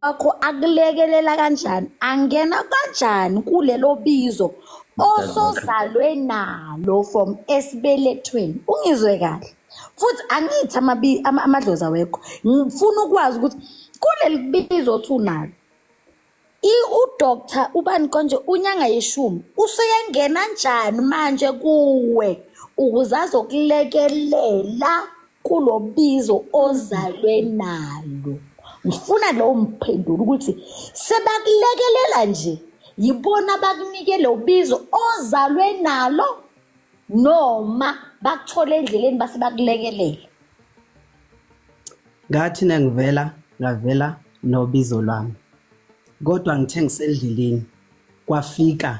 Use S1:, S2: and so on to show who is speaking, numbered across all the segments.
S1: wakho akulekelela kanjani angena kanjani kulelo bizo osozalwe nalo from esibelethweni ungizwe kahle futhi angithi amadlozi awekho ngifuna ukwazi ukuthi kuleli bizo othi unalo udoctor ubani konje unyanga yeshumi useyengena njani manje kuwe ukuze azokulekelela kulo bizo ozalwe nalo ngifuna lowo mphendulo ukuthi sebakulekelela nje yibona bakunike lo bizo ozalwe nalo noma bakuthole endleleni base bakulekelela
S2: ngathi nengivela ngavela nobizo lwami kodwa ngithe ngisendleleni kwafika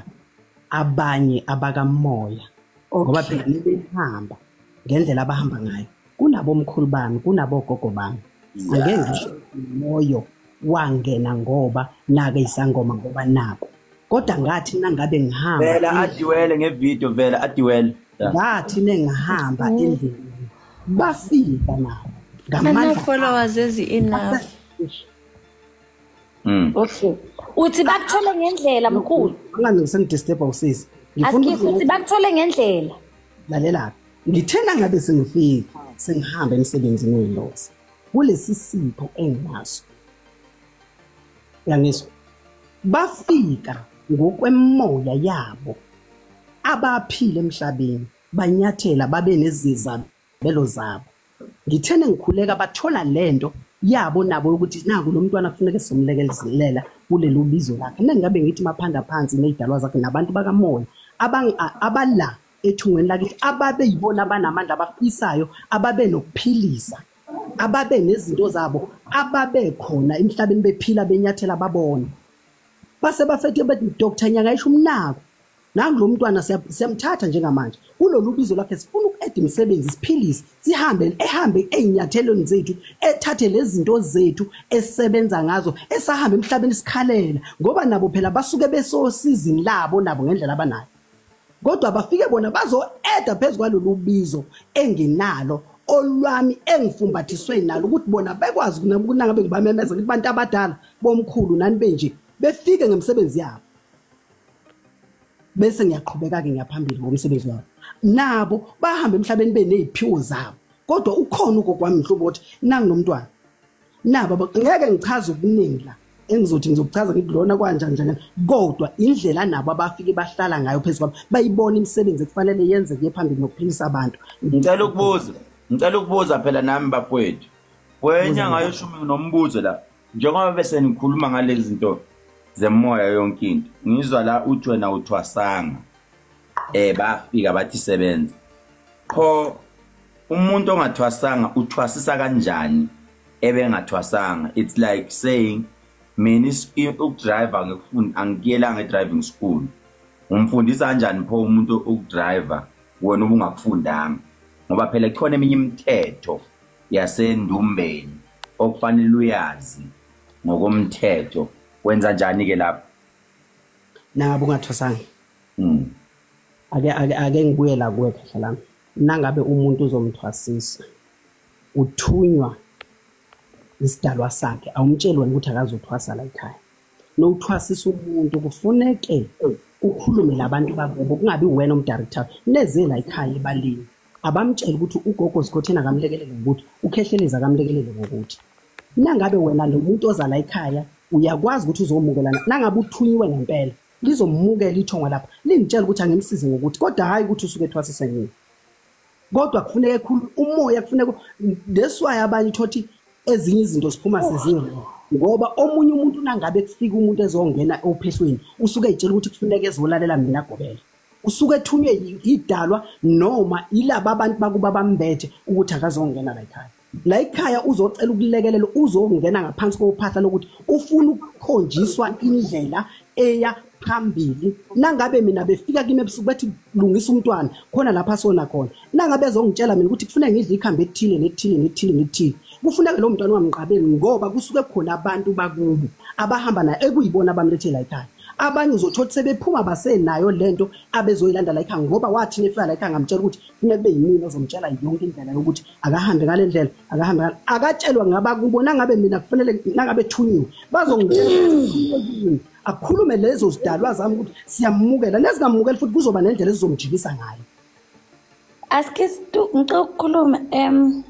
S2: abanye abakamoya ngoba phela nibehamba ngendlela abahamba ngayo kunabomkhulu bami kunabogogo bami angeke ngisho moyo wangena ngoba nake isangoma ngoba nako kodwa ngathi nangabe ngihamba vela adiwele
S3: ngevideo vela adiwele ngathi
S2: nengihamba mm. endlini bafika nabo ngamandla followers ezi
S4: enough mm okay
S1: uthi bakuthole ngendlela mkhulu ngani ngisengidisturb
S2: usisi ngifuna ukuthi
S1: bakuthole ngendlela lalela
S2: ngithena ngabe sengifika sengihambe emsebenzini welosi kulesi sipho enginaso yangizwa bafika ngokwemoya yabo abaphile emhlabeni banyathela babe nezizabelo zabo ngithene ngikhuleka bathola lento yabo nabo ukuthi naku lo mntwana kufuneka simlekezelela kuleli ubizo lakhe mina ngabe ngithi maphanda phansi nezidalwa zakhe nabantu bakamoya abala ethungweni lakithi ababe yibona abanamandla abafisayo ababe nokuphilisa ababe nezinto zabo ababe khona emhlabeni bephila benyathela babona base bafethe bethi Dr Nyanga isho umnako nangu lo mntwana siyamthatha njengamanje kulolu bizo lakhe sifuna uku-eda imisebenzi siphilise sihambe ehambe ey'nyathelweni zethu ethathe lezi zinto zethu esisebenza ngazo esahamba emhlabeni sikhalela ngoba nabo phela basuke besosizini labo nabo ngendlela abanayo kodwa bafike bona bazo-eda phezu kwalolu bizo enginalo olwami engifumbathiswe nalo ukuthi bona bekwazi kunangabe ngibamemeza ukuthi bantu abadala bomkhulu nani benje befike ngemisebenzi yabo bese ngiyaqhubeka-ke ngiyaphambili ngomsebenzi wabo nabo bahamba emhlabeni beney'phiwo zabo kodwa ukhona ugokwami mhlobo ukuthi nanginomntwana na baba ngeke ngichaze okuningi la engizothi ngizokuchaza ngithi lona kwanjani njani kodwa indlela nabo abafike bahlala ngayo phezu kwabo bayibona imisebenzi ekufanele yenze kuye phambili nokuphilisa abantu ngicela ukubuza
S3: ngicela ukubuza phela nami bafowethu kwenye ngayo shumi nombuzo la njengoba bese nikhuluma ngalezi zinto zemoya yonke into ngizwa la uthi wena uthwasanga eh bafika bathi sebenza qho umuntu ongathwasanga uthwasisa kanjani ebengathwasanga it's like saying mina ukudriver ngikufuni angikuyelanga edriving school umfundisa kanjani pho umuntu ukudriver wena ubungakufundanga ngoba phela kukhona eminye imithetho yasendumbeni okufanele uyazi ngokomthetho wenza njani ke lapho
S2: nabo ungathwasanga mm. ake ake ake ngibuye la kuwe kahle lami nangabe umuntu uzomthwasisa uthunywa isidalwa sakhe awumtsheli wena ukuthi akazothwasa la ekhaya nowuthwasisa umuntu kufuneke ukhulume labantu bakubo kungabi wena umdirector neze la ekhaya ebalini abamtshela ukuthi ugogo sikhotheni akamlekelele ngokuthi ukhehlelezi akamlekelele ngokuthi nangabe wena lo muntu oza la ekhaya uyakwazi ukuthi uzomukelana nangabe uthunyiwe ngempela lizomukela ithongo lapha lingitshela ukuthi angimsize ngokuthi kodwa hhayi ukuthi usuke ethwasise ngini kodwa kufuneka ekhulu umoya kufuneka leswayo abanye thothi ezinye izinto siphuma sezinye ngoba omunye umuntu nangabe kufika umuntu ezongena ophehlweni usuke etshela ukuthi kufuneka ezolalela mina gobela usuke ethunywe idalwa noma ilaba abantu bakuba bambethe ukuthi akazongena la ekhaya la ekhaya uzocela ukulekelela uzongena ngaphansi kophahla lokuthi ufuna ukukhonjiswa indlela eya phambili nangabe mina befika kimi ebusuku bathi lungisa umntwana khona lapha sona khona nangabe ezongitshela mina ukuthi kufuneka ngidle ikhambi ethile nethile nethile nethile kufuneka lo mntwana ungamqabeli ngoba kusuke khona abantu bakubo abahamba naye ekuyibona abamlethe la ekhaya abanye uzothola sebephuma basenayo lento abezoyilanda la ekhaya ngoba wathi nefika la ekhaya ngamtshela ukuthi funeka kube yimina ozomtshela yonke indlela yokuthi akahambe ngale ndlela akahambe ngale akatshelwa ngaba kubo nangabe mina kufanele nangabe thunyiwe bazongitshela akhulume lezo zidalwa zami ukuthi siyamukela nezingamukeli futhi kuzoba nendlela ezizomjikisa ngayo
S1: aske ngicela ukukhuluma um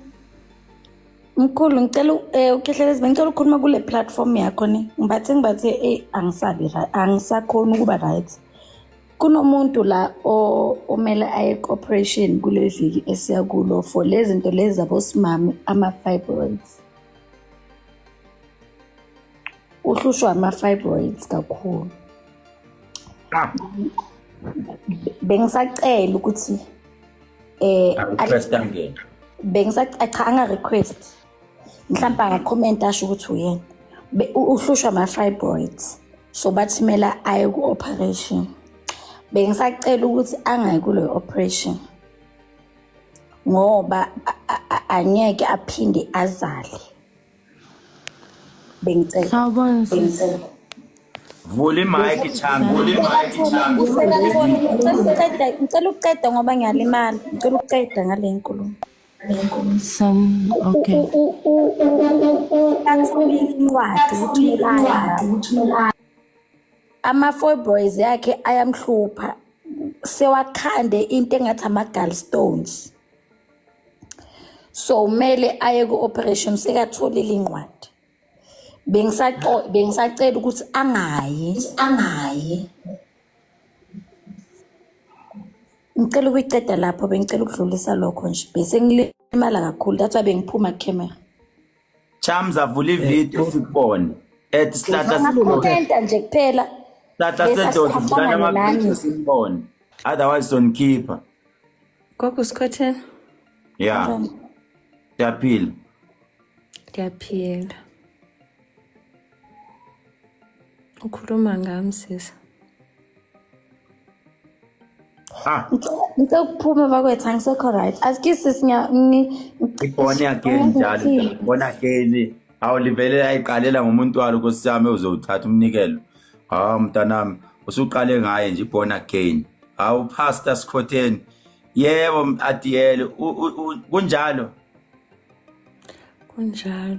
S1: mkhulu ngicela eh, ukhehlele izibe ngicela ukukhuluma kule platform yakho ni ngibathe ngibathe eyi angisabi angisakhoni ukuba right kunomuntu la omele aye cooperation kule viki esiya kulo for le zinto lezi zabosimami ama-fibroids uhlushwa ama-fibroids kakhulu ah. bengisacela ukuthi
S3: eh bengisacela cha
S1: anga-request mhlawumbe angakhomenta asho ukuthi uyena uhlushwa ama-fibroids so bathimela aye ku-operation bengisacela ukuthi angayi kuleyo operation ngoba angeke aphinde azale bengicela sawubona vula imike
S4: changa
S3: vula imike changa ngicela
S1: ukuqeda ngoba ngiyalimala ngicela ukuqeda ngale nkulumo ama-foiboys yakhe ayamhlupha sewakhande into engathi ama-gal stones so kumele aye ku-operation sekatholile incwadi bengisacela ukuthi angayi angayi ngicela ukuyiceda lapho bengicela ukudlulisa lokho nje bese ngilimala kakhulu that's why bengiphuma camera chams
S3: avula ivideo eh, sikubone at sihlahla sikhomenta nje
S1: kuphela sihlahla sedoda
S3: sidlala amaphilisi sikubone otherwise sonkhipha gogo
S4: sikhothela ya
S3: ndiyaphila
S4: ndiyaphila ukhuluma ngami sisi ah.
S1: ngicela ukuphuma bakwethu angisekho right aski sisi ngibone
S3: again njalo ngibona again awu livele ayiqalela ngomuntu walo nkosi yami uzowuthatha umnikelo hawu mntanami usuqale ngaye nje born again hawu pastor sikhotheni yebo adiyele kunjalo
S4: kunjalo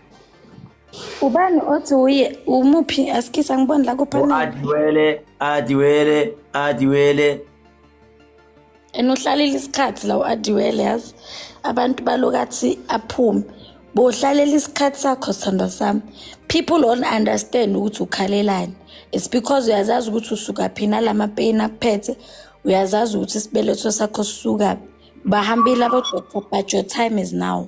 S1: ubani othi uye umuphi asikisa ngiboni la kuphaniadiwele adiwele adiwele and uhlalele isikhathi la u-adiwele yazi abantu balokathi aphume bohlalela isikhathi sakho sithandwa sami people don't understand ukuthi ukhalelani it's because uyazazi ukuthi usuka phi nalamapeyini akuphethe uyazazi ukuthi isibeletho sakho sisukaphi bahambile abodoktor but your time is now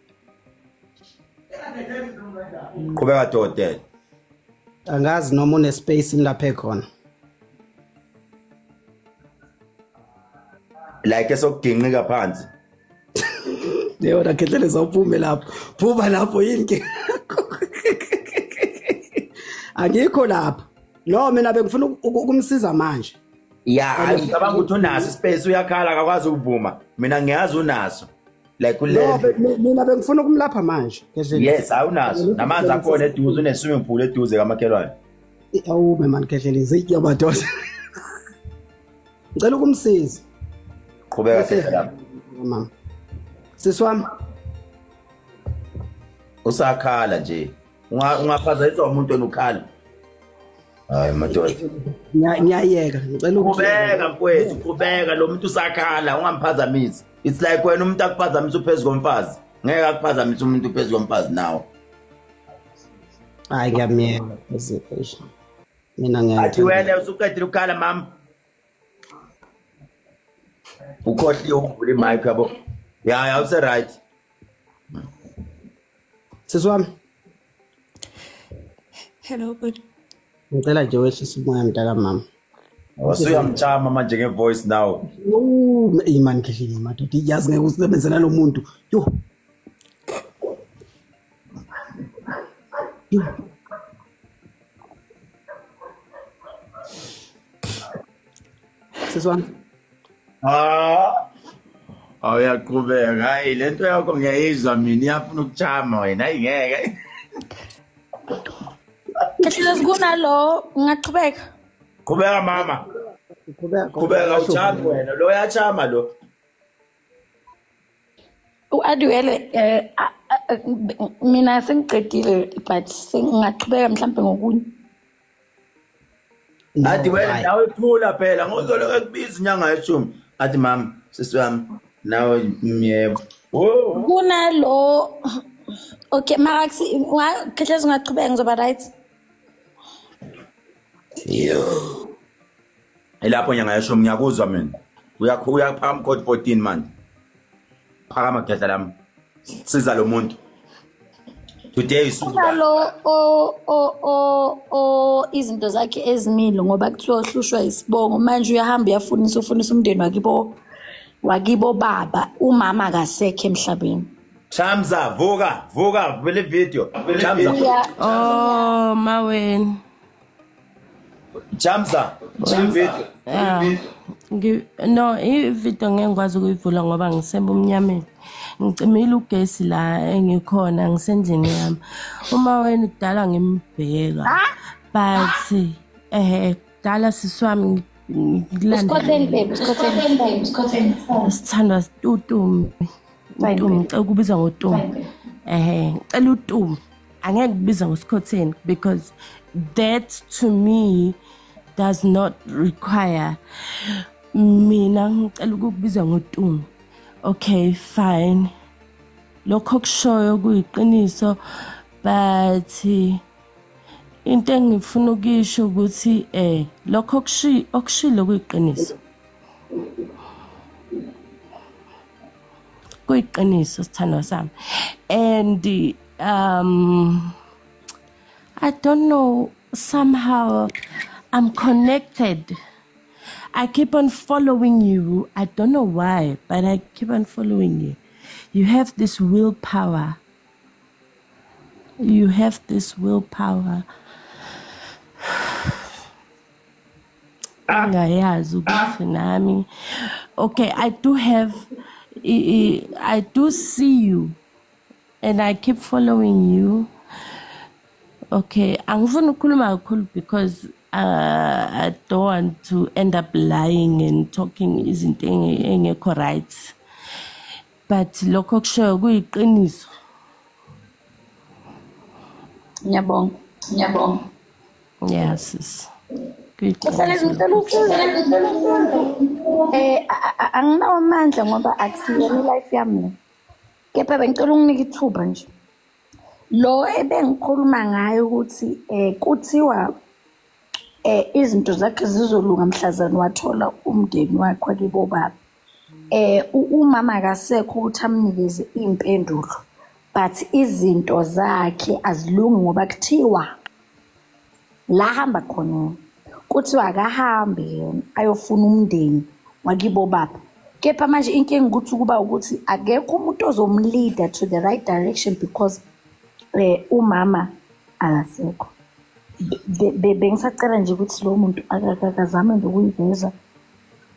S3: qhubeka dokotela
S2: angazi noma unespace ngilapha ekhona
S3: like esokugingqika phansi
S2: leyo rakhehlele zawuphume lapho phuma lapho yini ke angikho lapho no mina bengifuna ukumsiza manje ya ngicabanga
S3: ukuthi unaso ispace uyakhala akakwazi ukuvuma mina ngiyazi unaso like kulento mina
S2: bengifuna ukumlapha manje
S3: yes awunazo namanzi akhona eduze une swimming pool eduze kamakhelwane awu
S2: man khehlela izitya amadoda ngicela ukumsiza qhubeka
S3: khehlela mama
S2: siswami
S3: usakhala nje ungaphazanyiswa umuntu onukhala hayi madoda ngiyayeka
S2: ngicela ukubeka mfowethu
S3: qhubeka lo muntu usakhala ungamphazamisi it's like wena umuntu akuphazamisa uphezu komfazi ngeke akuphazamisa umuntu uphezu komfazi nawo
S2: hayi ngiyamyeka mina ngiyathi wena usuqedile
S3: ukukhala mama ukhohliwe ukuvula imic yabo ya ya use right
S2: sisi wami
S4: hello bhuti ngicela nje
S2: wehlisa umoya mntakamama wasuyamchama
S3: manje ngevoice now imani
S2: khehlinye madoda yazi ngeke usebenze nalo muntu yo yo Sisi wami. Ah.
S3: Awuyaqhubeka. Hayi lento yakho ngiyayizwa mina iyafuna ukuchama wena. Hayi ngeke.
S1: Kahle kunalo ngaqhubeka. Qhubeka
S3: mama. Qhubeka. Qhubeka uchama wena. Lo yachama lo.
S1: u-adwele eh, um mina sengiqedile but sengingaqhubeka mhlawumbe ngokunye
S3: athi wena nawe thula phela ngozoloke kubiza inyanga yeshumi athi mama sisi wami nawe myebo kunalo
S1: okay mara khehle zingaqhubeka ngizoba right yo
S3: ilapho nyanga yeshumi ngiyakuzwa mina uyakho uyaphakama code 14 manje phakama geza lami siza lo muntu today isukalo o
S1: o o o izinto zakhe ezimile ngoba kuthiwa uhlushwa isibongo manje uyahamba uyafunisa ufunisa umndeni wakibo wakibo baba umama akasekho emhlabeni Chamza
S3: vuka vuka vele video Chamza Oh
S5: maweni
S3: Jamza, Jamza. Yeah. Ngi
S5: no ivideo ngeke ngikwazi ukuyivula ngoba ngisebumnyameni. Ngicimile ugesi la engikhona ngisendlini yami. Uma wena kudala ngimbheka. But eh dala siswami ngilanda. Usikhotheni
S1: baby, usikhotheni, usikhotheni. Sithandwa
S5: situtumbi. Tumi, ngicela ukubiza ngotumi. Ehhe, ngicela utumi. Angeke kubiza ngosikhotheni because that to me does not require mina ngicela ukukubiza ngotumi. Okay, fine. Lokho kushoyo kuyiqiniso but into engifuna ukisho ukuthi eh lokho okushilo kuyiqiniso. kuyiqiniso sithandwa sami and um i don't know somehow i'm connected i keep on following you i don't know why but i keep on following you you have this willpower you have this willpower ah. ngayazi ukuthi nami okay i do have i do see you and i keep following you okay angifuni ukukhuluma kakhulu because uh, i don't want to end up lying and talking izinto engekho right but lokho kushoyo kuyiqiniso ngiyabonga
S1: ngiyabonga Yeah, sis.
S5: Msebenzi ngicela usizo ngicela usizo
S1: eh anginawo amandla ngoba akusiyona life yami le kepha bengicela unginike ithuba nje lo ebengikhuluma ngayo ukuthi eh kuthiwa eh izinto zakhe zizolunga mhlazana wathola umndeni wakhe kibo baba eh umama akasekho ukuthi amnikeze impendulo but izinto zakhe azilungi ngoba kuthiwa la hamba khona kuthiwa akahambe yena ayofuna umndeni wakibo baba kepha manje inkinga ukuthi kuba ukuthi akekho umuntu ozomleader to the right direction because eh umama akasekho bengisacela nje ukuthi lo muntu akazame nje ukuyiveza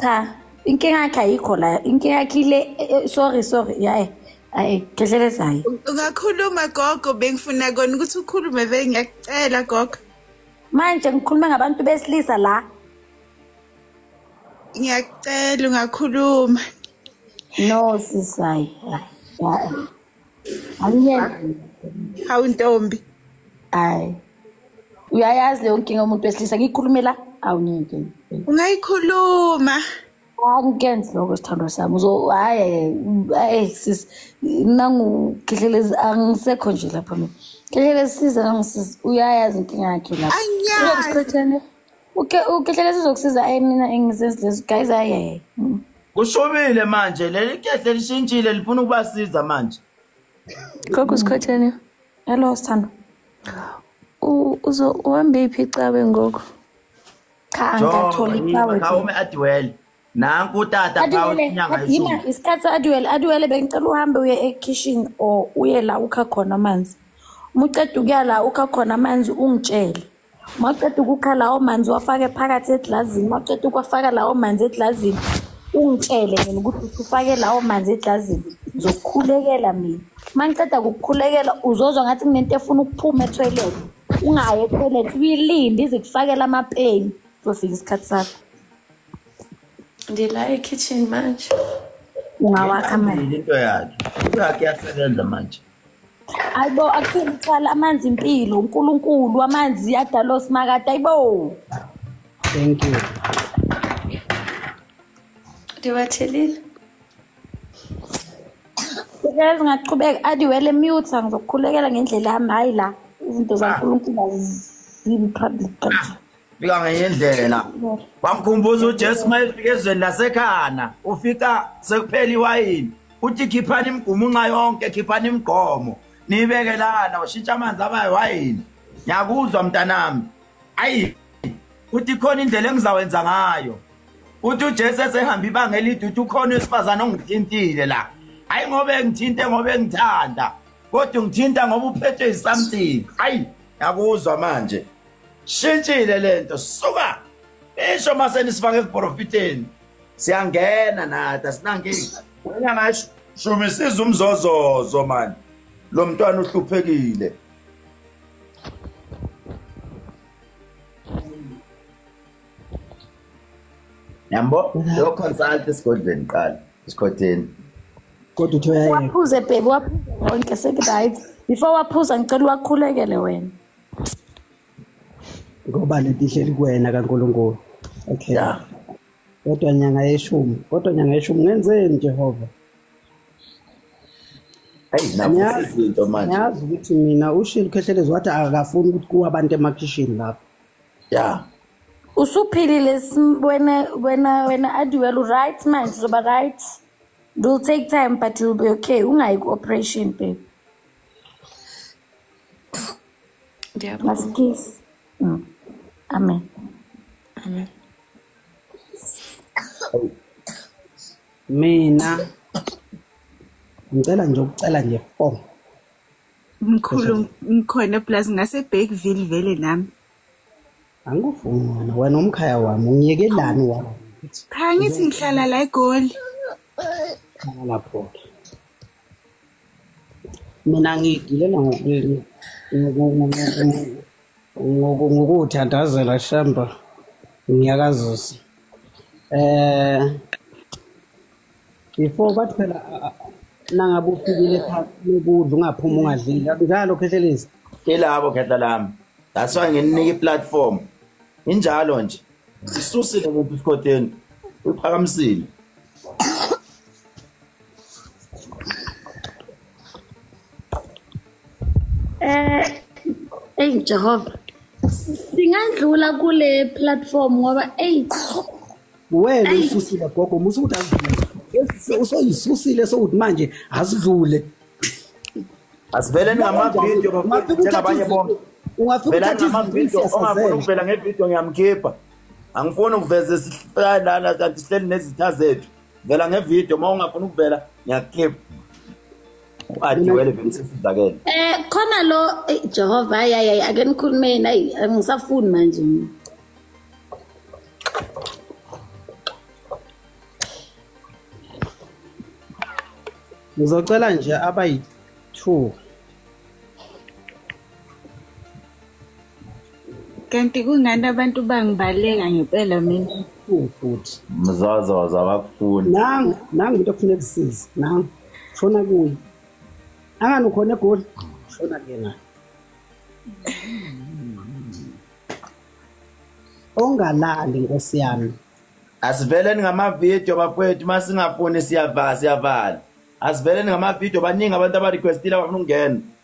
S3: cha
S1: inkinga yakhe ayikho la inkinga yakhe ile eh, eh, sorry sorry yaye ayi dlelezayo ungakhuluma
S6: gogo bengifuna kona ukuthi ukhulume vele ngiyakucela gogo manje
S1: ngikhuluma ngabantu besilisa la
S6: ngiyakucela ungakhuluma no
S1: sisayi Angiyezi. Hawu
S6: ntombi. Hayi.
S1: Uyayazi leyo nkinga umuntu wesilisa ngikhulumela awungeke. Ungayikhuluma. Angikenzi lokho sithandwa sami. Uzo hayi hey sis nangu khlehlelezi angisekho nje lapha mina. Khlehlelezi siza nangisiza uyayazi inkinga yakhe lapha. Angiyazi. uke ukehlele sizokusiza ayi mina engizenzi lezo guys ayi mm. kushubile
S3: manje leli kehle lishintshile lifuna ukubasiza manje gogo
S4: sikhotheni hello sithando
S1: uzo
S4: uhambephi cawe ngoku cha
S1: angatholi cawe khawume adiwele
S3: nanku utata adima isikhathi
S1: aduwele
S3: aduwele
S1: bengicela uhambe uye ekhishini or uye la ukha khona amanzi uma uceda ukuya la ukha khona amanzi ungitshele uma uceda ukukha lawo manzi wafake phakathi eglazini uma uceda ukwafaka lawo manzi eglazini ungitshele mina ukuthi usufake lawo manzi eglazini ngizokukhulekela mina uma ngiceda kukukhulekela uzozwa ngathi kunento efuna ukuphuma ethoyilethi ungayi ethoyilethi uyilinde izikufakela amapeni zofika isikhathi sakho ndila
S4: ekitchen manje ungawakha
S1: manje into yakhe into
S3: yakhe yasebenza manje ayibo
S1: akuthini uthwala amanzi impilo unkulunkulu amanzi adala osimakade ayibo thank
S2: you
S4: ndiwathelile
S1: Ngeke ngaqhubeka adiwele mute ngizokukhulekela ngendlela yami hayi la izinto zaNkulunkulu azimi public kanje. fika ngenye
S3: indlela wamkhumbuza ujesu uma efika ezweni lasekhana ufika sekuphela iwayini uthi khiphani imigumunxa yonke khiphani imigqomo niyibeke lana ushintsha amanzi aba yiwayini ngiyakuzwa mntanami ayi uthi khona indlela engizawenza ngayo uthi ujesu esehamba ibanga elide uthi ukhona wesifazane ongithintile la hhayi ngoba engithinte ngoba engithanda kodwa ungithinta ngoba uphethwe yisamthing ayi ngiyakuzwa manje shintshile lento suka isho mase nisifake kuprofiteni siyangena nathi asinankinga wena ngasho shumi siza umzozozo mani lo mntwana uhluphekile yambo lo consult esigodlweni qala esikhotheni kodwa
S2: uthi uyayeka waphuze bhebi waphuze
S1: wonke sekuthi right before waphuza ngicela uwakhulekele wena
S2: ngoba lento ihleli kuwena kaNkulunkulu okay yeah. kodwa nyanga yeshumi kodwa nyanga yeshumi ngenzeni Jehova
S3: ngiyazi ukuthi mina
S2: ushilo ukhehlelezi wathi akafuni ukuthi kuwe abantu emakhishini lapho ya
S3: usuphilile
S1: wena wena wena adiwel uright manje uzoba right it will take time but you'll be okay ungayi ku-operation babe
S4: Last kiss.
S1: Mm. Amen.
S4: Amen.
S2: Mina ngicela nje ukucela nje four. Mkhulu
S6: ngikhona plus ngase Bakeville vele nami.
S2: Angikufuni wena umkhaya wami ungiyekelani wami. Cha ngithi
S6: ngihlala la eGoli.
S2: Lapho. mina ngiyigilela ngokuthandazela shamba ngiyakazisa eh before bathi phela nangabe ufikile phansi lokudla ungaphuma ungadlile njalo khehlelezi kelabo khehla
S3: lami that's why ngininike iplatform injalo nje isusile muntu isikhotheni uphakamisile
S1: Eh hey Jehova singadlula kule platform ngoba hey
S2: wena ususile gogo musa ukuthi azidlule usoyisusile sokuthi manje azidlule
S3: asivele ngamavidiyo bafike njengabanye bonke ungafika uthathe
S2: izinto
S3: ongafuna ukuvela ngevidiyo ngiyamkhipha angifuni ukuveza esihlala lana kanti sihleli nezitha zethu vela ngevideo uma ungafuni ukuvela ngiyakukhip adiwele vele sesizakele um eh, khona lo
S1: eh, jehova ayi ayi ake nikhulumeni ayi angisafuni manje mina
S2: ngizocela nje abayi-two
S6: kanti kungani abantu bangibaleka ngempela mina futhi
S2: mzazaza
S3: abakufuni nangu nangu into
S2: okufuneka kusize nangu shona kuye angani ukhona egoli shona kuyena ongalali nkosi yami asiveleni
S3: ngamavidiyo bafowethu uma singafuni siyavala siyavala asiveleni ngamavidiyo baningi abantu abarequestile abafuna ukungena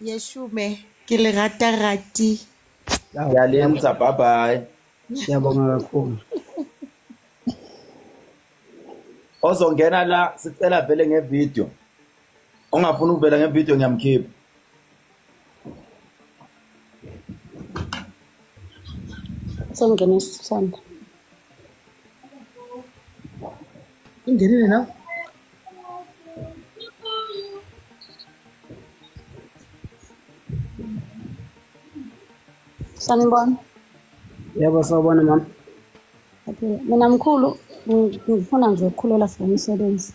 S3: yeshume
S7: ke le rata rati ya
S3: le ntsa bye bye ya bonga
S2: kakhulu
S3: ozongena la sicela vele nge video ongafuna ukuvela nge video ngiyamkhipha
S1: sengena isithanda
S3: Ingenile na?
S1: Sanibona. Yebo
S2: sawubona mama. Okay,
S1: mina mkhulu ngifuna nje ukukhulela for umsebenzi.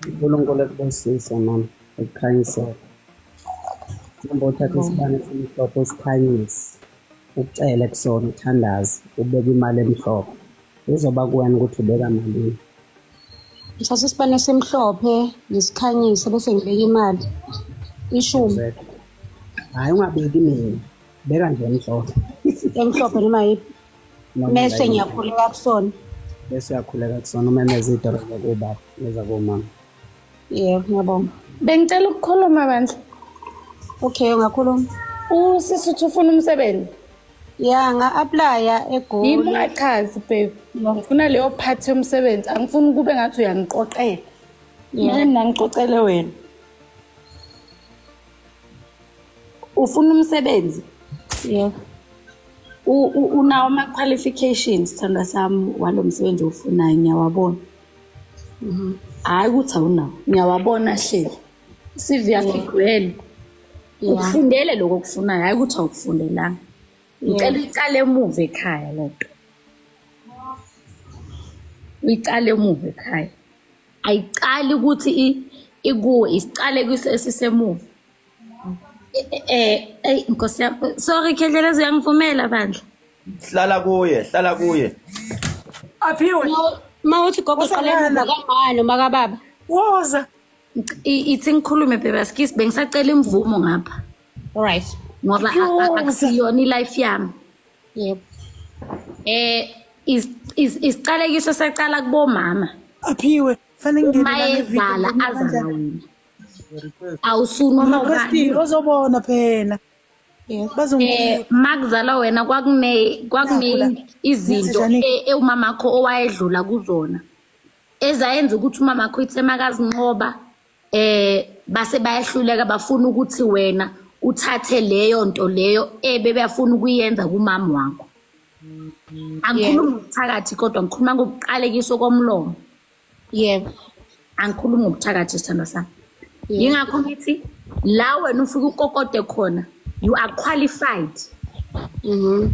S2: uNkulunkulu ekubusise mama ekukhanyisela. Ngomba uthatha isibane simhlophe usikhanyise. ucele kusona uthandazi ubeka imali emhlophe izoba kuwena ukuthi ubeka malini
S1: ngithatha isibane esimhlophe ngisikhanyise bese ngibeka imali ishumi
S2: hhayi ungabeki mina beka nje emhlophe emhlophe noma
S1: yiphi mese ngiyakhuleka kusona bese uyakhuleka
S2: kusona umemeza idolo zakubaba nezakomama Yebo,
S1: ngiyabonga. Bengicela ukukhuluma
S8: bandla. Okay,
S1: ungakhuluma. Usisi uthi
S8: ufuna umsebenzi. Ya,
S1: nga-aplaya eGoli. Yimi ungachazi
S8: babe. Ngifuna leyo part yomsebenzi. Angifuni kube ngathi uyangiqoqela. Yini nangiqoqele wena?
S1: Ufuna umsebenzi?
S8: Yebo.
S1: Unawo ama-qualifications, sithandwa sami, walo msebenzi owufunayo, ngiyawabona. Mhm. hayi ukuthi awunawo ngiyawabona hleli i-cv yakho igcwele ukufundele lokho okufunayo hhayi ukuthi awukufundelanga ngicela uyicale emuva ekhaya le nto uyicale emuva ekhaya ayiqali ukuthi ikuwe isiqale kwiso esisemuva um e, e, e, eyi nkosi yam sorry khendlela eziyangivumela bandla hlala kuye
S3: hlala kuye
S7: aphiwe ma uthi
S1: gogo qaleni kamani uma kababa woza ithi ngikhulume bebaskisi bengisacela imvumo ngapha alright ngoba akusiyona i-life yami yebo eh isiqalekiso sacala kubomama aphiwe
S7: fanele ngingenayezala
S1: azana wena awusuni uma ubani
S7: ozobona phela Eh,
S1: makuzalwa wena kwakune kwakune izinto ewumama wakho owayedlula kuzona ezayenza ukuthi umama wakho ithe makazinqoba eh base bayahluleka bafuna ukuthi wena uthathe leyo nto leyo ebe beyafuna ukuyenza kumama wakho angikhulumi ngokuthakathi kodwa ngikhuluma ngokuqalekiswa komlomo
S6: yebo angikhulumi
S1: ngobuthakathi sithandwa sami yingakho ngithi la wena ufike ukokode khona you are qualified mm -hmm.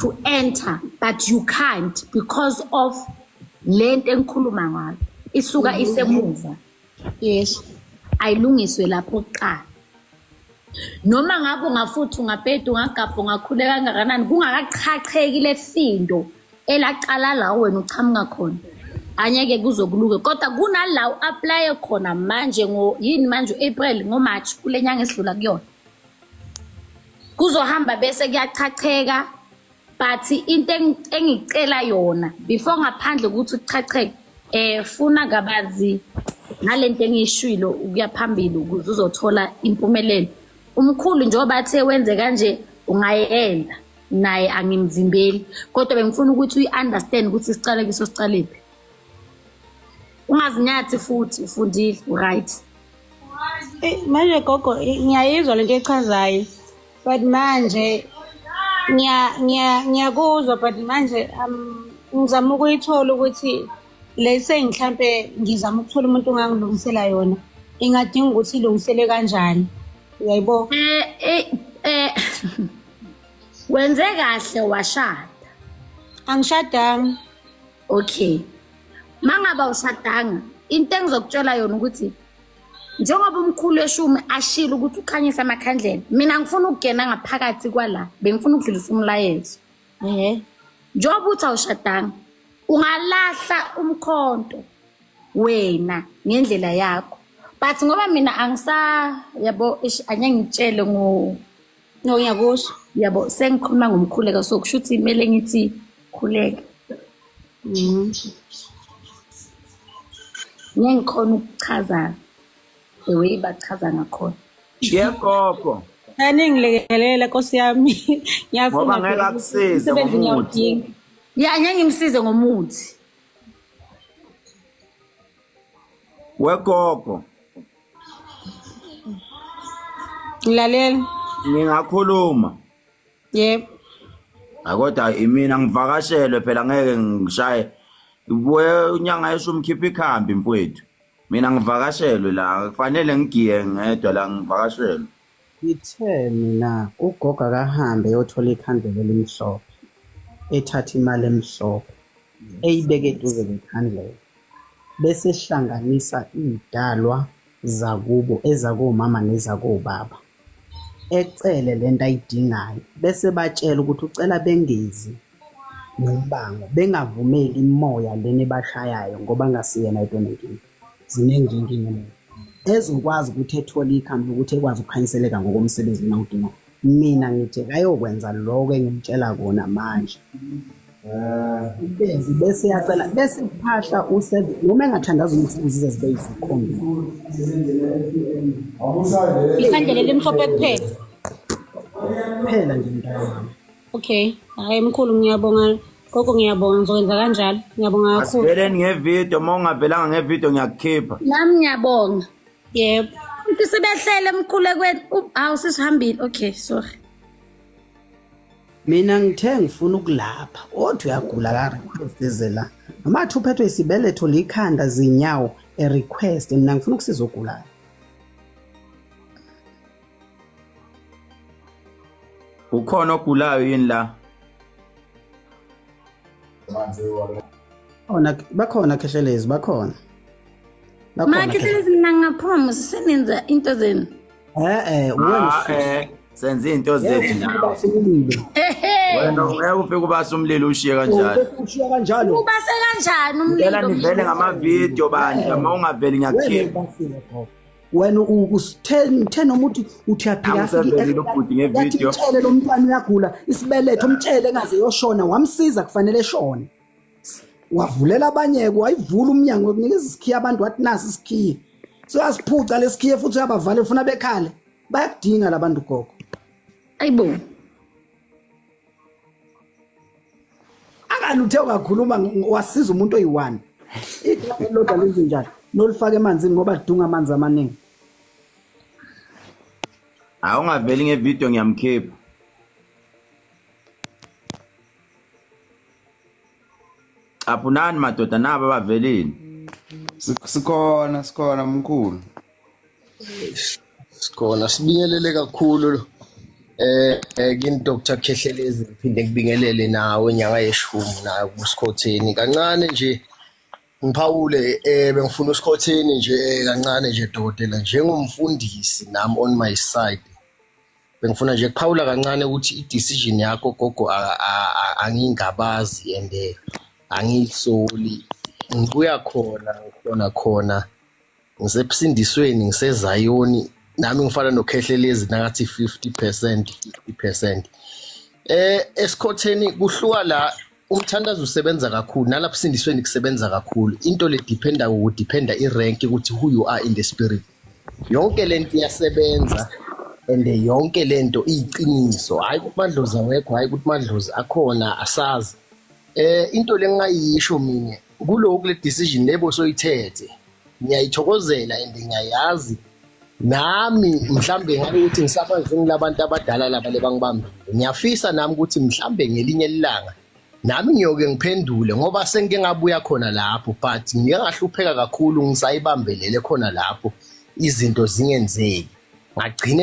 S1: to enter but you can't because of le nto engikhuluma ngayo isuka mm -hmm. isemuva yes
S6: ayilungiswe
S1: lapho kuqala noma ngabe ungafuthi ungabheda ungagabha ungakhuleka kangakanani kungakachacheki le findo elaqala la wena uqhamuka khona anyeke kuzokuluke kodwa kunala u-aplaye khona manje ngo yini manje u-april ngomarch kule nyanga esidlula kuyona kuzohamba bese kuyachacheka but into engicela yona before ngaphandle ukuthi kuchacheke eh funa kabazi ngalento engiyishwilo ukuya phambili ukuze uzothola impumelelo umkhulu njengoba athe wenze kanje ungayenza naye angimvimbeli kodwa bengifuna ukuthi uyi-understand ukuthi sicale kiso sicalephi ungazinyathi futhi ufundile uright eh,
S6: manje gogo ngiyayizwa lento echazayo but manje ngiyakuzwa but manje um, ngizama ukuyithola ukuthi le sengihlampe ngizama ukuthola umuntu ongangilungisela yona ingadinga ukuthi ilungisele kanjani uyayibo eh eh, eh
S1: wenze kahle washada
S6: angishadanga
S1: okay mangaba ushadanga into engizokutshela yona ukuthi njengoba umkhulu eshumi ashilo ukuthi ukhanyisa amakhandlela mina ngifuna ukungena ngaphakathi kwala bengifuna ukudlulisa umlayezo ehe njengoba uthi awushadanga ungalahla umkhonto wena ngendlela yakho but ngoba mina angisa yabo angeke ngitshele ngo no
S6: ngiyakusho yabo
S1: sengikhuluma ngomkhuleko so kusho ukuthi kumele ngithi khuleka mm. ngeke ngikhona ukuchaza the way bachaza ngakhona ngiyagogo
S3: aningilekelele
S6: nkosi yami ngiyafuna ngeke akusize
S3: ngomuthi ya ngeke
S1: ngimsize ngomuthi
S3: wegogo
S6: ngilalela ngingakhuluma yebo
S3: akodwa imina ngivakashelwe phela ngeke ngishaye we unyanga yesho umkhipha ikhambi mfowethu mina ngivakashelwe la kufanele ngigiye ngedwa la ngivakashelwe Ngithe
S2: mina ugogo akahambe eyothola ikhandlela elimhlophe ethathe imali emhlophe eyibeke eduze kwekhandlela bese ehlanganisa iy'dalwa zakubo ezakomama nezakobaba ecele le nto ayidingayo bese batshela ukuthi ucela bengezi nombango bengavumeli imoya lena ebashayayo ngoba ngasiyena yedwa nenkinga ziningi inkinga leyo ezokwazi ukuthi ethole ikhambi lokuthi ekwazi ukukhanyiseleka ngokomsebenzi lona udinga mina ngithi kayokwenza lokho engimtshela kona manje ubezi bese yacela bese kuphahla useven noma engathandaza ukuthi uzize zibe yizikhombi isandla lelimhlophe
S6: kuphela
S2: kuphela nje mntana okay
S6: hayi mkhulu ngiyabonga gogo ngiyabonga ngizokwenza kanjalo ngiyabonga kakhulu asiveleni ngevidiyo uma
S3: ungavelanga ngevidiyo ngiyakukhipha nami ngiyabonga
S1: yebo
S6: umuntu sebehlele
S1: emkhulekweni hawu sisihambile okay sorry
S2: mina ngithe ngifuna ukulapha othi uyagula karequestezela noma athi uphethwe isibeletho likhanda zinyawo erequest mina ngifuna ukusiza ogulayo
S3: ukhona ogulayo yini la
S2: ona bakhona khehlelezi bakhona
S1: makhehlelezi mina ngaphuma sisenenza into zenu e-e
S2: ah, eh, senza
S3: izinto zethu nawe wena ngeke ufike ubase umlilo ushiye kanjalo ushiye kanjalo
S2: ubase kanjani
S1: umlilo ngicela nivele ngamavidiyo
S3: bandla uma ungaveli ngiyakukhipha
S2: wena uthe noma uthi uthi uyaphila afikemtshele
S3: lo mntwana
S2: uyagula isibeletho mtshele engaze yoshona wamsiza kufanele eshone wavulela abanye-ke wayivula umnyango yokunikeza isikhiye abantu wathi nasi isikhiye soyasiphuca lesikhiye futhi uyabavale ufuna bekhale bayakudinga labantu gogo ayibo Angani uthe ungakhuluma wasiza umuntu oyi-one. Igama elilodwa lenze njani? Nolifaka emanzini ngoba lidunga amanzi amaningi.
S3: Awungaveli ngevideo ngiyamkhipha. Caphunani madoda naba bavelile. Sikhona
S9: sikhona mkhulu.
S10: Sikhona sibingelele kakhulu lo. Eh, eh kini Dr Khehlelezi ngiphinde ngibingelele nawe nyanga yeshumi nayo kusikhotheni kancane nje ngiphawule eh bengifuna usikhotheni nje eh, kancane nje dokotela njengomfundisi nami on my side bengifuna nje kuphawula kancane ukuthi i-decision yakho gogo angingabazi and eh, angilisoli ngibuya khona ngikhona khona ngisebusindisweni ngisezayoni nami ngifana nokhehlelezi nakathi 50% 50% eh esikhotheni kuhluka la umthandazo usebenza kakhulu nalapho sindisweni kusebenza kakhulu into le dependa ku dependa i rank ukuthi who you are in the spirit yonke lento iyasebenza and yonke lento iyiqiniso hayi ukuthi madlozi awekho hayi ukuthi madlozi akhona asazi eh into lengayisho mina kuloku le decision lebo soyithethe ngiyayithokozela and ngiyayazi nami mhlambe ngabe ukuthi ngisabantu ngilabantu abadala laba lebangibambile ngiyafisa nami ukuthi mhlambe ngelinye ilanga nami ngiyoke ngiphendule ngoba sengike ngabuya khona lapho but ngike ngahlupheka kakhulu ngisayibambelele khona lapho izinto zingenzeki ngagcine